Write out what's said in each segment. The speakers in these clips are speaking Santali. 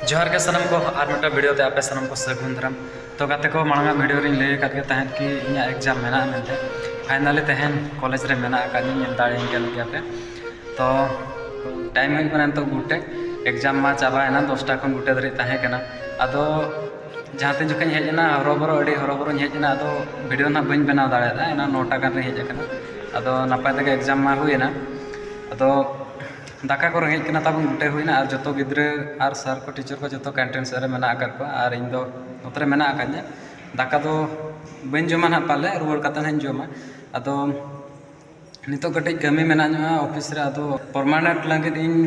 ᱡᱚᱦᱟᱨ ᱜᱮ ᱥᱟᱱᱟᱢ ᱠᱚ ᱟᱨ ᱢᱤᱫᱴᱟᱝ ᱵᱷᱤᱰᱤᱭᱳ ᱛᱮ ᱟᱯᱮ ᱥᱟᱱᱟᱢ ᱠᱚ ᱥᱟᱹᱜᱩᱱ ᱫᱟᱨᱟᱢ ᱛᱚ ᱜᱟᱛᱮ ᱠᱚ ᱢᱟᱲᱟᱝ ᱟᱜ ᱵᱷᱤᱰᱤᱭᱳ ᱨᱤᱧ ᱞᱟᱹᱭ ᱟᱠᱟᱫ ᱜᱮ ᱛᱟᱦᱮᱸᱫ ᱠᱤ ᱤᱧᱟᱹᱜ ᱮᱠᱡᱟᱢ ᱢᱮᱱᱟᱜᱼᱟ ᱢᱮᱱᱛᱮ ᱯᱷᱟᱭᱱᱟᱞᱤ ᱛᱮᱦᱮᱧ ᱠᱚᱞᱮᱡᱽ ᱨᱮ ᱢᱮᱱᱟᱜ ᱟᱠᱟᱫᱤᱧ ᱧᱮᱞ ᱫᱟᱲᱮᱭᱟᱹᱧ ᱠᱟᱱ ᱜᱮᱭᱟ ᱯᱮ ᱛᱚ ᱴᱟᱭᱤᱢ ᱦᱩᱭᱩᱜ ᱠᱟᱱᱟ ᱱᱤᱛᱚᱜ ᱜᱩᱴᱮ ᱮᱠᱡᱟᱢ ᱢᱟ ᱪᱟᱵᱟᱭᱮᱱᱟ ᱫᱚᱥᱴᱟ ᱠᱷᱚᱱ ᱜᱩᱴᱮ ᱫᱷᱟᱹᱨᱤᱡ ᱛᱟᱦᱮᱸ ᱠᱟᱱᱟ ᱟᱫᱚ ᱡᱟᱦᱟᱸ ᱛᱤᱱ ᱡᱚᱠᱷᱚᱱ ᱦᱮᱡ ᱮᱱᱟ ᱦᱚᱨᱚᱵᱚᱨᱚ ᱟᱹᱰᱤ ᱦᱚᱨᱚᱵᱚᱨᱚᱧ ᱦᱮᱡ ᱮᱱᱟ ᱟᱫᱚ ᱵᱷᱤᱰᱤᱭᱳ ᱱᱟᱦᱟᱜ ᱵᱟᱹᱧ ᱵᱮᱱᱟᱣ ᱫᱟᱲᱮᱭᱟᱫᱟ ᱮᱱᱟᱱ ᱱᱚᱴᱟ ᱜᱟᱱ ᱨᱮ ᱦᱮᱡ ᱟᱠᱟᱱᱟ ᱟᱫᱚ ᱱᱟᱯᱟᱭ ᱛᱮᱜᱮ ᱮᱠᱡᱟᱢ ᱢᱟ ᱦᱩᱭᱮᱱᱟ ᱟᱫᱚ ᱫᱟᱠᱟ ᱠᱚ ᱨᱮᱸᱜᱮᱡ ᱠᱟᱱᱟ ᱛᱟᱵᱚᱱ ᱩᱴᱟᱹ ᱦᱩᱭᱱᱟ ᱟᱨ ᱡᱚᱛᱚ ᱜᱤᱫᱽᱨᱟᱹ ᱟᱨ ᱥᱟᱨ ᱠᱚ ᱴᱤᱪᱟᱨ ᱠᱚ ᱡᱚᱛᱚ ᱠᱮᱱᱴᱤᱱ ᱥᱮᱫ ᱨᱮ ᱢᱮᱱᱟᱜ ᱟᱠᱟᱫ ᱠᱚᱣᱟ ᱟᱨ ᱤᱧ ᱫᱚ ᱱᱚᱛᱮ ᱨᱮ ᱢᱮᱱᱟᱜ ᱟᱠᱟᱫᱤᱧᱟ ᱫᱟᱠᱟ ᱫᱚ ᱵᱟᱹᱧ ᱡᱚᱢᱟ ᱦᱟᱸᱜ ᱯᱟᱞᱮ ᱨᱩᱣᱟᱹᱲ ᱠᱟᱛᱮ ᱦᱟᱸᱜ ᱤᱧ ᱡᱚᱢᱟ ᱟᱫᱚ ᱱᱤᱛᱚᱜ ᱠᱟᱹᱴᱤᱡ ᱠᱟᱹᱢᱤ ᱢᱮᱱᱟᱜ ᱧᱚᱜᱼᱟ ᱚᱯᱷᱤᱥ ᱨᱮ ᱟᱫᱚ ᱯᱟᱨᱢᱟᱱᱮᱱᱴ ᱞᱟᱹᱜᱤᱫ ᱤᱧ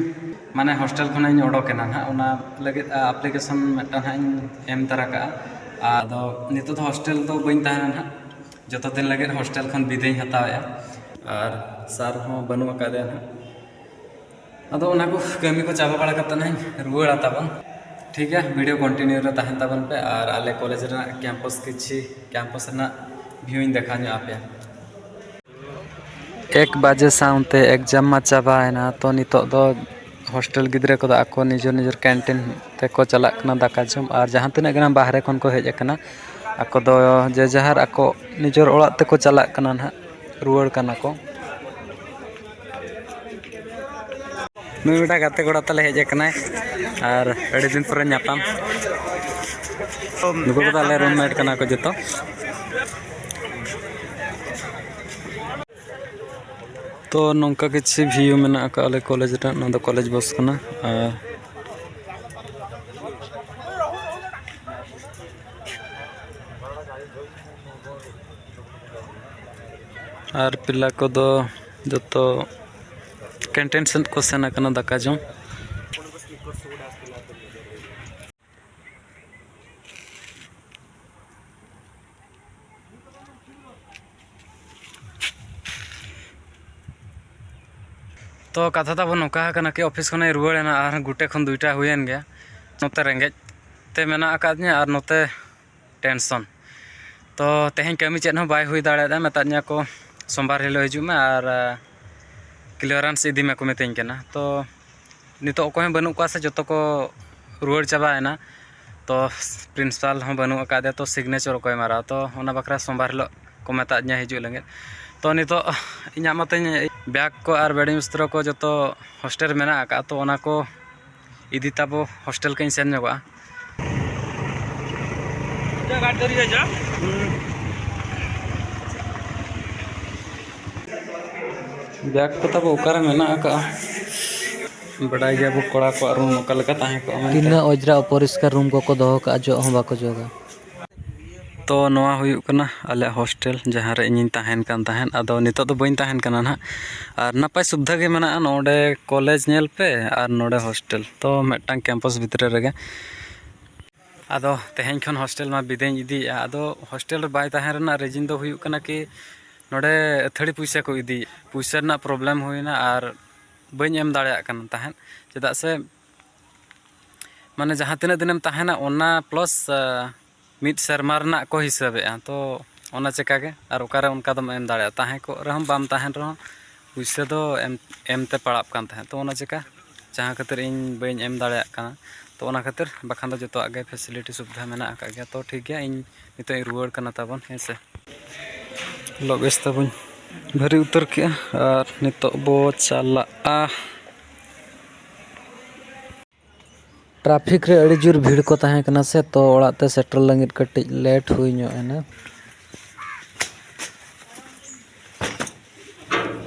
ᱢᱟᱱᱮ ᱦᱳᱥᱴᱮᱞ ᱠᱷᱚᱱᱟᱜ ᱤᱧ ᱚᱰᱚᱠ ᱮᱱᱟ ᱦᱟᱸᱜ ᱚᱱᱟ ᱞᱟᱹᱜᱤᱫ ᱟᱯᱞᱤᱠᱮᱥᱚᱱ ᱢᱤᱫᱴᱟᱝ ᱦᱟᱸᱜ ᱤᱧ ᱮᱢ ᱛᱟᱨᱟ ᱠᱟᱜᱼᱟ ᱟᱫᱚ ᱱᱤᱛᱚᱜ ᱫᱚ ᱦᱳᱥᱴᱮᱞ ᱨᱮᱫᱚ ᱵᱟᱹᱧ ᱛᱟᱦᱮᱱᱟ ᱦᱟᱸᱜ ᱡᱚᱛᱚ ᱫᱤᱱ ᱞᱟᱹᱜᱤᱫ ᱦᱳᱥᱴᱮᱞ ᱠᱷᱚᱱ ᱵᱤᱫᱟᱹᱭ ᱤᱧ ᱦᱟᱛᱟᱣᱮᱜᱼᱟ ᱟᱨ ᱥᱟᱨ ᱦᱚᱸ ᱵᱟᱹᱱᱩᱜ ᱟᱠᱟᱫᱮᱭᱟ ᱦᱟᱸᱜ ᱟᱫᱚ ᱚᱱᱟ ᱠᱚ ᱠᱟᱹᱢᱤ ᱠᱚ ᱪᱟᱵᱟ ᱵᱟᱲᱟ ᱠᱟᱛᱮᱫ ᱦᱟᱸᱜ ᱤᱧ ᱨᱩᱣᱟᱹᱲᱟ ᱛᱟᱵᱚᱱ ᱴᱷᱤᱠ ᱜᱮᱭᱟ ᱵᱷᱤᱰᱤᱭᱳ ᱠᱚᱱᱴᱤᱱᱤᱭᱩ ᱨᱮ ᱛᱟᱦᱮᱱ ᱛᱟᱵᱚᱱ ᱯᱮ ᱟᱨ ᱟᱞᱮ ᱠᱚᱞᱮᱡᱽ ᱨᱮᱱᱟᱜ ᱠᱮᱢᱯᱟᱥ ᱠᱤᱪᱷᱤ ᱠᱮᱢᱯᱟᱥ ᱨᱮᱱᱟᱜ ᱵᱷᱤᱭᱩ ᱤᱧ ᱫᱮᱠᱷᱟᱣ ᱧᱚᱜ ᱟᱯᱮᱭᱟ ᱮᱠ ᱵᱟᱡᱮ ᱥᱟᱶᱛᱮ ᱮᱠᱡᱟᱢ ᱢᱟ ᱪᱟᱵᱟᱭᱮᱱᱟ ᱛᱚ ᱱᱤᱛᱚᱜ ᱫᱚ ᱦᱳᱥᱴᱮᱞ ᱜᱤᱫᱽᱨᱟᱹ ᱠᱚᱫᱚ ᱟᱠᱚ ᱱᱤᱡᱮᱨ ᱱᱤᱡᱮᱨ ᱠᱮᱱᱴᱤᱱ ᱛᱮᱠᱚ ᱪᱟᱞᱟᱜ ᱠᱟᱱᱟ ᱫᱟᱠᱟ ᱡᱚᱢ ᱟᱨ ᱡᱟᱦᱟᱸ ᱛᱤᱱᱟᱹᱜ ᱜᱮ ᱱᱟᱦᱟᱜ ᱵᱟᱦᱨᱮ ᱠᱷᱚᱱ ᱠᱚ ᱦᱮᱡ ᱟᱠᱟᱱᱟ ᱟᱠᱚ ᱫᱚ ᱡᱮ ᱡᱟᱦᱟᱨ ᱟᱠᱚ ᱱᱤᱡᱮᱨ ᱚᱲᱟᱜ ᱛᱮᱠᱚ ᱪᱟᱞᱟᱜ ᱠᱟᱱᱟ ᱱᱟᱦᱟᱜ ᱨᱩᱣᱟᱹᱲ ᱠᱟᱱᱟ ᱠᱚ ᱱᱩᱭ ᱢᱤᱫᱴᱟᱝ ᱜᱟᱛᱮ ᱠᱚᱲᱟ ᱛᱟᱞᱮ ᱦᱮᱡ ᱟᱠᱟᱱᱟᱭ ᱟᱨ ᱟᱹᱰᱤ ᱫᱤᱱ ᱯᱚᱨᱮ ᱧᱟᱯᱟᱢ ᱱᱩᱠᱩ ᱠᱚᱫᱚ ᱟᱞᱮ ᱨᱩᱢ ᱢᱮᱴ ᱠᱟᱱᱟ ᱠᱚ ᱡᱚᱛᱚ ᱛᱚ ᱱᱚᱝᱠᱟ ᱠᱤᱪᱷᱩ ᱵᱷᱤᱭᱩ ᱢᱮᱱᱟᱜ ᱟᱠᱟᱫ ᱟᱞᱮ ᱠᱚᱞᱮᱡᱽ ᱨᱮᱱᱟᱜ ᱱᱚᱣᱟ ᱫᱚ ᱠᱚᱞᱮᱡᱽ ᱵᱚᱥ ᱠᱟᱱᱟ ᱟᱨ ᱟᱨ ᱯᱤᱞᱟ ᱠᱚᱫᱚ ᱡᱚᱛᱚ ᱠᱮᱱᱴᱤᱱ ᱥᱮᱫ ᱠᱚ ᱥᱮᱱ ᱟᱠᱟᱱᱟ ᱫᱟᱠᱟ ᱡᱚᱢ ᱛᱚ ᱠᱟᱛᱷᱟ ᱛᱟᱵᱚᱱ ᱱᱚᱝᱠᱟ ᱟᱠᱟᱱᱟ ᱠᱤ ᱚᱯᱷᱤᱥ ᱠᱷᱚᱱᱮ ᱨᱩᱣᱟᱹᱲ ᱮᱱᱟ ᱟᱨ ᱜᱩᱴᱮ ᱠᱷᱚᱱ ᱫᱩᱭᱴᱟ ᱦᱩᱭᱮᱱ ᱜᱮᱭᱟ ᱱᱚᱛᱮ ᱨᱮᱸᱜᱮᱡ ᱛᱮ ᱢᱮᱱᱟᱜ ᱟᱠᱟᱫᱤᱧᱟᱹ ᱟᱨ ᱱᱚᱛᱮ ᱴᱮᱱᱥᱚᱱ ᱛᱚ ᱛᱮᱦᱮᱧ ᱠᱟᱹᱢᱤ ᱪᱮᱫ ᱦᱚᱸ ᱵᱟᱭ ᱦᱩᱭ ᱫᱟᱲᱮᱭᱟᱫᱟ ᱢᱮᱛᱟᱫ ᱫᱤᱧᱟᱹ ᱠᱚ ᱥᱳᱢᱵᱟᱨ ᱦᱤᱞᱳᱜ ᱦᱤᱡᱩᱜ ᱢᱮ ᱟᱨ ᱠᱞᱤᱭᱟᱨᱮᱱᱥ ᱤᱫᱤ ᱢᱮᱠᱚ ᱢᱤᱛᱟᱹᱧ ᱠᱟᱱᱟ ᱛᱚ ᱱᱤᱛᱚᱜ ᱚᱠᱚᱭ ᱦᱚᱸ ᱵᱟᱹᱱᱩᱜ ᱠᱚᱣᱟ ᱥᱮ ᱡᱚᱛᱚ ᱠᱚ ᱨᱩᱣᱟᱹᱲ ᱪᱟᱵᱟᱭᱮᱱᱟ ᱛᱚ ᱯᱨᱤᱱᱥᱤᱯᱟᱞ ᱦᱚᱸ ᱵᱟᱹᱱᱩᱜ ᱟᱠᱟᱫᱮᱭᱟ ᱛᱚ ᱥᱤᱜᱽᱱᱮᱪᱟᱨ ᱚᱠᱚᱭ ᱢᱟᱨᱟᱣᱟ ᱛᱚ ᱚᱱᱟ ᱵᱟᱠᱷᱨᱟ ᱥᱳᱢᱵᱟᱨ ᱦᱤᱞᱳᱜ ᱠᱚ ᱢᱮᱛᱟᱜ ᱫᱤᱧᱟᱹ ᱦᱤᱡᱩᱜ ᱞᱟᱹᱜᱤᱫ ᱛᱚ ᱱᱤᱛᱚᱜ ᱤᱧᱟᱹᱜ ᱢᱟᱛᱚᱧ ᱵᱮᱜᱽ ᱠᱚ ᱟᱨ ᱵᱮᱰᱤᱝ ᱵᱤᱥᱛᱨᱚ ᱠᱚ ᱡᱚᱛᱚ ᱦᱳᱥᱴᱮᱞ ᱨᱮ ᱢᱮᱱᱟᱜ ᱟᱠᱟᱫᱼᱟ ᱛᱚ ᱚᱱᱟ ᱠᱚ ᱤᱫᱤ ᱛᱟᱵᱚ ᱦᱳᱥᱴᱮᱞ ᱠᱟᱹᱧ ᱥᱮᱱ ᱧᱚᱜᱚᱜᱼᱟ ᱜᱟᱹᱰᱤ ᱫᱷᱟᱹᱨᱤᱡ ᱦᱤᱡᱩᱜᱼᱟ ᱵᱮᱜᱽ ᱠᱚ ᱛᱟᱵᱚ ᱚᱠᱟᱨᱮ ᱢᱮᱱᱟᱜ ᱟᱠᱟᱜᱼᱟ ᱵᱟᱰᱟᱭ ᱜᱮᱭᱟ ᱵᱚ ᱠᱚᱲᱟ ᱠᱚᱣᱟᱜ ᱨᱩᱢ ᱚᱠᱟ ᱞᱮᱠᱟ ᱛᱟᱦᱮᱸ ᱠᱚᱜᱼᱟ ᱢᱮᱱᱛᱮ ᱛᱤᱱᱟᱹᱜ ᱚᱡᱽᱨᱟ ᱚᱯᱚᱨᱤᱥᱠᱟᱨ ᱨᱩᱢ ᱠᱚᱠᱚ ᱫᱚᱦᱚ ᱠᱟᱜᱼᱟ ᱡᱚᱜ ᱦᱚᱸ ᱵᱟᱠᱚ ᱡᱚᱜᱟ ᱛᱚ ᱱᱚᱣᱟ ᱦᱩᱭᱩᱜ ᱠᱟᱱᱟ ᱟᱞᱮᱭᱟᱜ ᱦᱳᱥᱴᱮᱞ ᱡᱟᱦᱟᱸ ᱨᱮ ᱤᱧᱤᱧ ᱛᱟᱦᱮᱱ ᱠᱟᱱ ᱛᱟᱦᱮᱸᱫ ᱟᱫᱚ ᱱᱤᱛᱚᱜ ᱫᱚ ᱵᱟᱹᱧ ᱛᱟᱦᱮᱱ ᱠᱟᱱᱟ ᱦᱟᱸᱜ ᱟᱨ ᱱᱟᱯᱟᱭ ᱥᱩᱵᱤᱫᱷᱟ ᱜᱮ ᱢᱮᱱᱟᱜᱼᱟ ᱱᱚᱰᱮ ᱠᱚᱞᱮᱡᱽ ᱧᱮᱞ ᱯᱮ ᱟᱨ ᱱᱚᱰᱮ ᱦᱳᱥᱴᱮᱞ ᱛᱚ ᱢᱤᱫᱴᱟᱱ ᱠᱮᱢᱯᱟᱥ ᱵᱷᱤᱛᱨᱤ ᱨᱮᱜᱮ ᱟᱫᱚ ᱛᱮᱦᱮᱧ ᱠᱷᱚᱱ ᱦᱳᱥᱴᱮᱞ ᱢᱟ ᱵᱤᱫᱟᱹᱭᱤᱧ ᱤᱫᱤᱭᱮᱫᱼᱟ ᱟᱫᱚ ᱦᱳᱥᱴᱮᱞ ᱨᱮ ᱵᱟᱭ ᱛᱟᱦᱮᱱ ᱨᱮᱱᱟᱜ ᱨᱤᱡᱤᱱ ᱫᱚ ᱦᱩᱭᱩᱜ ᱠᱟᱱᱟ ᱠᱤ ᱱᱚᱰᱮ ᱟᱹᱛᱷᱟᱹᱲᱤ ᱯᱚᱭᱥᱟ ᱠᱚ ᱤᱫᱤᱭᱮᱫᱼᱟ ᱯᱚᱭᱥᱟ ᱨᱮᱱᱟᱜ ᱯᱨᱚᱵᱞᱮᱢ ᱦᱩᱭᱱᱟ ᱟᱨ ᱵᱟᱹᱧ ᱮᱢ ᱫᱟᱲᱮᱭᱟᱜ ᱠᱟᱱ ᱛᱟᱦᱮᱸᱫ ᱪᱮᱫᱟᱜ ᱥᱮ ᱢᱟᱱᱮ ᱡᱟᱦᱟᱸ ᱛᱤᱱᱟᱹᱜ ᱫᱤᱱᱮᱢ ᱛᱟᱦᱮᱱᱟ ᱚᱱᱟ ᱯᱞᱟᱥ ᱢᱤᱫ ᱥᱮᱨᱢᱟ ᱨᱮᱱᱟᱜ ᱠᱚ ᱦᱤᱥᱟᱹᱵᱮᱜᱼᱟ ᱛᱚ ᱚᱱᱟ ᱪᱮᱠᱟ ᱜᱮ ᱟᱨ ᱚᱠᱟᱨᱮ ᱚᱱᱠᱟ ᱫᱚᱢ ᱮᱢ ᱫᱟᱲᱮᱭᱟᱜᱼᱟ ᱛᱟᱦᱮᱸ ᱠᱚᱜ ᱨᱮᱦᱚᱸᱢ ᱵᱟᱢ ᱛᱟᱦᱮᱱ ᱨᱮᱦᱚᱸ ᱯᱩᱭᱥᱟᱹ ᱫᱚ ᱮᱢ ᱮᱢ ᱛᱮ ᱯᱟᱲᱟᱜ ᱠᱟᱱ ᱛᱟᱦᱮᱸᱫ ᱛᱚ ᱚᱱᱟ ᱪᱮᱠᱟ ᱡᱟᱦᱟᱸ ᱠᱷᱟᱹᱛᱤᱨ ᱤᱧ ᱵᱟᱹᱧ ᱮᱢ ᱫᱟᱲᱮᱭᱟᱜ ᱠᱟᱱᱟ ᱛᱚ ᱚᱱᱟ ᱠᱷᱟᱹᱛᱤᱨ ᱵᱟᱠᱷᱟᱱ ᱫᱚ ᱡᱚᱛᱚᱣᱟᱜ ᱜᱮ ᱯᱷᱮᱥᱮᱞᱤᱴᱤ ᱥᱩᱵᱤᱫᱷᱟ ᱢᱮᱱᱟᱜ ᱟᱠᱟᱫ ᱜᱮᱭᱟ ᱛᱚ ᱴᱷᱤᱠ ᱜᱮᱭᱟ ᱤᱧ ᱱᱤᱛᱚᱜ ᱤᱧ ᱨᱩᱣᱟᱹᱲ ᱠᱟᱱᱟ ᱛᱟᱵᱚᱱ ᱦᱮᱸ ᱥᱮ ᱞᱚᱜᱮᱡᱽ ᱛᱟᱵᱚᱧ ᱵᱷᱟᱹᱨᱤ ᱩᱛᱟᱹᱨ ᱠᱮᱜᱼᱟ ᱟᱨ ᱱᱤᱛᱚᱜ ᱵᱚ ᱪᱟᱞᱟᱜᱼᱟ ᱴᱨᱟᱯᱷᱤᱠ ᱨᱮ ᱟᱹᱰᱤ ᱡᱳᱨ ᱵᱷᱤᱲ ᱠᱚ ᱛᱟᱦᱮᱸ ᱠᱟᱱᱟ ᱥᱮ ᱛᱚ ᱚᱲᱟᱜ ᱛᱮ ᱥᱮᱴᱮᱨ ᱞᱟᱹᱜᱤᱫ ᱠᱟᱹᱴᱤᱡ ᱞᱮᱴ ᱦᱩᱭ ᱧᱚᱜ ᱮᱱᱟ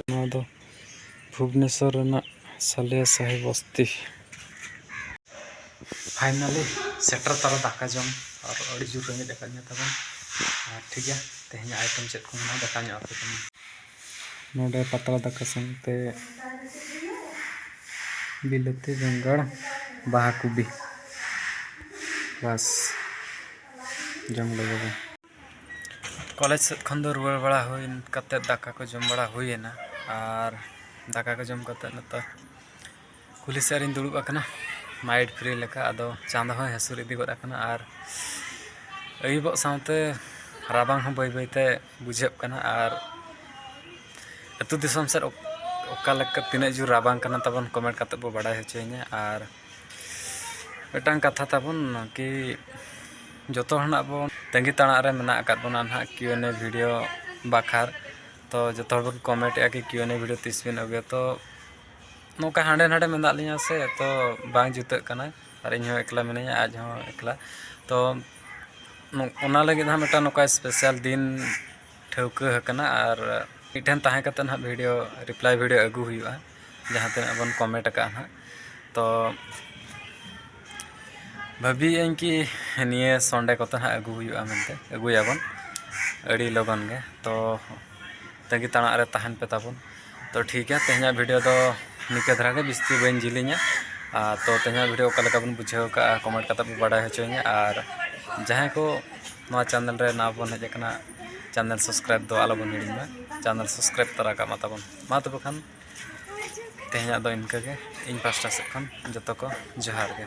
ᱱᱚᱣᱟ ᱫᱚ ᱵᱷᱩᱵᱽᱱᱮᱥᱚᱨ ᱨᱮᱱᱟᱜ ᱥᱟᱞᱤᱭᱟ ᱥᱟᱦᱤ ᱵᱚᱥᱛᱤ ᱯᱷᱟᱭᱱᱟᱞᱤ ᱥᱮᱴᱮᱨ ᱛᱟᱨᱟ ᱫᱟᱠᱟ ᱡᱚᱢ ᱟᱨ ᱟᱹᱰᱤ ᱡᱳᱨ ᱨᱮᱸᱜᱮᱡ ᱟᱠᱟᱫᱤᱧᱟ ᱛᱟᱵᱚᱱ ᱟᱨ ᱴᱷᱤᱠ ᱜᱮᱭᱟ ᱛᱮᱦᱮᱧᱟᱜ ᱟᱭᱴᱮᱢ ᱪᱮᱫ ᱠᱚ ᱢᱮᱱᱟᱜᱼᱟ ᱫᱟᱠᱟ ᱧᱚᱜ ᱟᱯᱮ ᱠᱟᱹᱱᱟᱹᱧ ᱱᱚᱰᱮ ᱯᱟᱛᱲᱟ ᱫᱟᱠᱟ ᱥᱟᱶᱛᱮ ᱵᱤᱞᱟᱹᱛᱤ ᱵᱮᱸᱜᱟᱲ ᱵᱟᱦᱟ ᱠᱚᱵᱤ ᱵᱟᱥ ᱡᱚᱢ ᱞᱟᱹᱜᱤᱫ ᱠᱚᱞᱮᱡᱽ ᱥᱮᱫ ᱠᱷᱚᱱ ᱫᱚ ᱨᱩᱣᱟᱹᱲ ᱵᱟᱲᱟ ᱦᱩᱭ ᱠᱟᱛᱮᱫ ᱫᱟᱠᱟ ᱠᱚ ᱡᱚᱢ ᱵᱟᱲᱟ ᱦᱩᱭᱮᱱᱟ ᱟᱨ ᱫᱟᱠᱟ ᱠᱚ ᱡᱚᱢ ᱠᱟᱛᱮᱫ ᱱᱤᱛᱚᱜ ᱠᱩᱞᱦᱤ ᱥᱮᱫ ᱨᱤᱧ ᱫᱩᱲᱩᱵ ᱟᱠᱟᱱᱟ ᱢᱟᱭᱤᱰ ᱯᱷᱨᱤ ᱞᱮᱠᱟ ᱟᱫᱚ ᱪᱟᱸᱫᱚ ᱦᱚᱸᱭ ᱦᱟᱹᱥᱩᱨ ᱤᱫᱤ ᱜᱚᱫ ᱟᱠᱟᱱᱟ ᱟᱨ ᱟᱹᱭᱩᱵᱚᱜ ᱥᱟᱶᱛᱮ ᱨᱟᱵᱟᱝ ᱦᱚᱸ ᱵᱟᱹᱭ ᱵᱟᱹᱭᱛᱮ ᱵᱩᱡᱷᱟᱹᱜ ᱠᱟᱱᱟ ᱟᱨ ᱟᱛᱳ ᱫᱤᱥᱚᱢ ᱥᱮᱫ ᱚᱠᱟ ᱞᱮᱠᱟ ᱛᱤᱱᱟᱹᱜ ᱡᱳᱨ ᱨᱟᱵᱟᱝ ᱠᱟᱱᱟ ᱛᱟᱵᱚᱱ ᱠᱚᱢᱮᱱᱴ ᱠᱟᱛᱮᱫ ᱵᱚᱱ ᱵᱟᱰᱟᱭ ᱦᱚᱪᱚᱭᱤᱧᱟ ᱟᱨ ᱢᱤᱫᱴᱟᱝ ᱠᱟᱛᱷᱟ ᱛᱟᱵᱚᱱ ᱠᱤ ᱡᱚᱛᱚ ᱦᱚᱲᱟᱜ ᱵᱚᱱ ᱛᱟᱺᱜᱤ ᱛᱟᱲᱟᱜ ᱨᱮ ᱢᱮᱱᱟᱜ ᱟᱠᱟᱫ ᱵᱚᱱᱟ ᱱᱟᱦᱟᱜ ᱠᱤᱭᱩ ᱮᱱ ᱮ ᱵᱷᱤᱰᱤᱭᱳ ᱵᱟᱠᱷᱨᱟ ᱛᱚ ᱡᱚᱛᱚ ᱦᱚᱲ ᱵᱚᱱ ᱠᱚᱢᱮᱱᱴᱮᱜᱼᱟ ᱠᱤ ᱠᱤᱭᱩ ᱮᱱ ᱮ ᱵᱷᱤᱰᱤᱭᱳ ᱛᱤᱥ ᱵᱤᱱ ᱟᱹᱜᱩᱭᱟ ᱛᱚ ᱱᱚᱝᱠᱟ ᱦᱟᱸᱰᱮ ᱱᱟᱰᱮ ᱢᱮᱱᱟᱜ ᱞᱤᱧᱟᱹ ᱥᱮ ᱛᱚ ᱵᱟᱝ ᱡᱩᱛᱩᱜ ᱠᱟᱱᱟ ᱟᱨ ᱤᱧ ᱦᱚᱸ ᱮᱠᱞᱟ ᱢᱤᱱᱟᱹᱧᱟ ᱟᱡ ᱦᱚᱸ ᱮᱠᱞᱟ ᱛᱚ ᱚᱱᱟ ᱞᱟᱹᱜᱤᱫ ᱦᱚᱸ ᱢᱤᱫᱴᱟᱝ ᱱᱚᱝᱠᱟ ᱥᱯᱮᱥᱟᱞ ᱫᱤᱱ ᱴᱷᱟᱹᱣᱠᱟᱹ ᱟᱠᱟᱱᱟ ᱟᱨ ᱢᱤᱫᱴᱷᱮᱱ ᱛᱟᱦᱮᱸ ᱠᱟᱛᱮ ᱦᱟᱸᱜ ᱵᱷᱤᱰᱭᱳ ᱨᱤᱯᱞᱟᱭ ᱵᱷᱤᱰᱭᱳ ᱟᱹᱜᱩ ᱦᱩᱭᱩᱜᱼᱟ ᱡᱟᱦᱟᱸ ᱛᱤᱱᱟᱹᱜ ᱵᱚᱱ ᱠᱚᱢᱮᱱᱴ ᱟᱠᱟᱫᱼᱟ ᱦᱟᱸᱜ ᱛᱚ ᱵᱷᱟᱹᱵᱤᱭᱮᱫ ᱟᱹᱧ ᱠᱤ ᱱᱤᱭᱟᱹ ᱥᱚᱱᱰᱮ ᱠᱚᱛᱮ ᱦᱟᱸᱜ ᱟᱹᱜᱩ ᱦᱩᱭᱩᱜᱼᱟ ᱢᱮᱱᱛᱮ ᱟᱹᱜᱩᱭᱟᱵᱚᱱ ᱟᱹᱰᱤ ᱞᱚᱜᱚᱱ ᱜᱮ ᱛᱚ ᱛᱟᱺᱜᱤ ᱛᱟᱲᱟᱜ ᱨᱮ ᱛᱟᱦᱮᱱ ᱯᱮ ᱛᱟᱵᱚᱱ ᱛᱚ ᱴᱷᱤᱠ ᱜᱮᱭᱟ ᱛᱮᱦᱮᱧᱟᱜ ᱵᱷᱤᱰᱤᱭᱳ ᱫᱚ ᱱᱤᱝᱠᱟᱹ ᱫᱷᱟᱨᱟ ᱜᱮ ᱵᱤᱥᱛᱤ ᱵᱟᱹᱧ ᱡᱤᱞᱤᱧᱟ ᱟᱨ ᱛᱚ ᱛᱮᱦᱮᱧᱟᱜ ᱵᱷᱤᱰᱤᱭᱳ ᱚᱠᱟ ᱞᱮᱠᱟ ᱵᱚᱱ ᱵᱩᱡᱷᱟᱹᱣ ᱠᱟᱜᱼᱟ ᱠᱚᱢᱮᱱᱴ ᱠᱟᱛᱮ ᱯᱮ ᱵᱟᱰᱟᱭ ᱦᱚᱪᱚᱧᱟ ᱟᱨ ᱡᱟᱦᱟᱸᱭ ᱠᱚ ᱱᱚᱣᱟ ᱪᱮᱱᱮᱞ ᱨᱮ ᱱᱟᱣᱟ ᱵᱚᱱ ᱦᱮᱡ ᱟᱠᱟᱱᱟ ᱪᱮᱱᱮᱞ ᱥᱟᱵᱥᱠᱨᱟᱭᱤᱵ ᱫᱚ ᱟᱞᱚ ᱵᱚᱱ ᱦᱤᱲᱤᱧ ᱢᱟ ᱪᱮᱱᱮᱞ ᱥᱟᱵᱥᱠᱨᱟᱭᱤᱵ ᱛᱚᱨᱟ ᱠᱟᱜ ᱢᱟ ᱛᱟᱵᱚᱱ ᱢᱟ ᱛᱚᱵᱮ ᱠᱷᱟᱱ ᱛᱮᱦᱮᱧᱟᱜ ᱫᱚ ᱤᱱᱠᱟᱹ ᱜᱮ ᱤᱧ ᱯᱟᱥᱴᱟ ᱥᱮᱫ ᱠᱷᱚᱱ ᱡᱚᱛᱚ ᱠᱚ ᱡᱚᱦᱟᱨ ᱜᱮ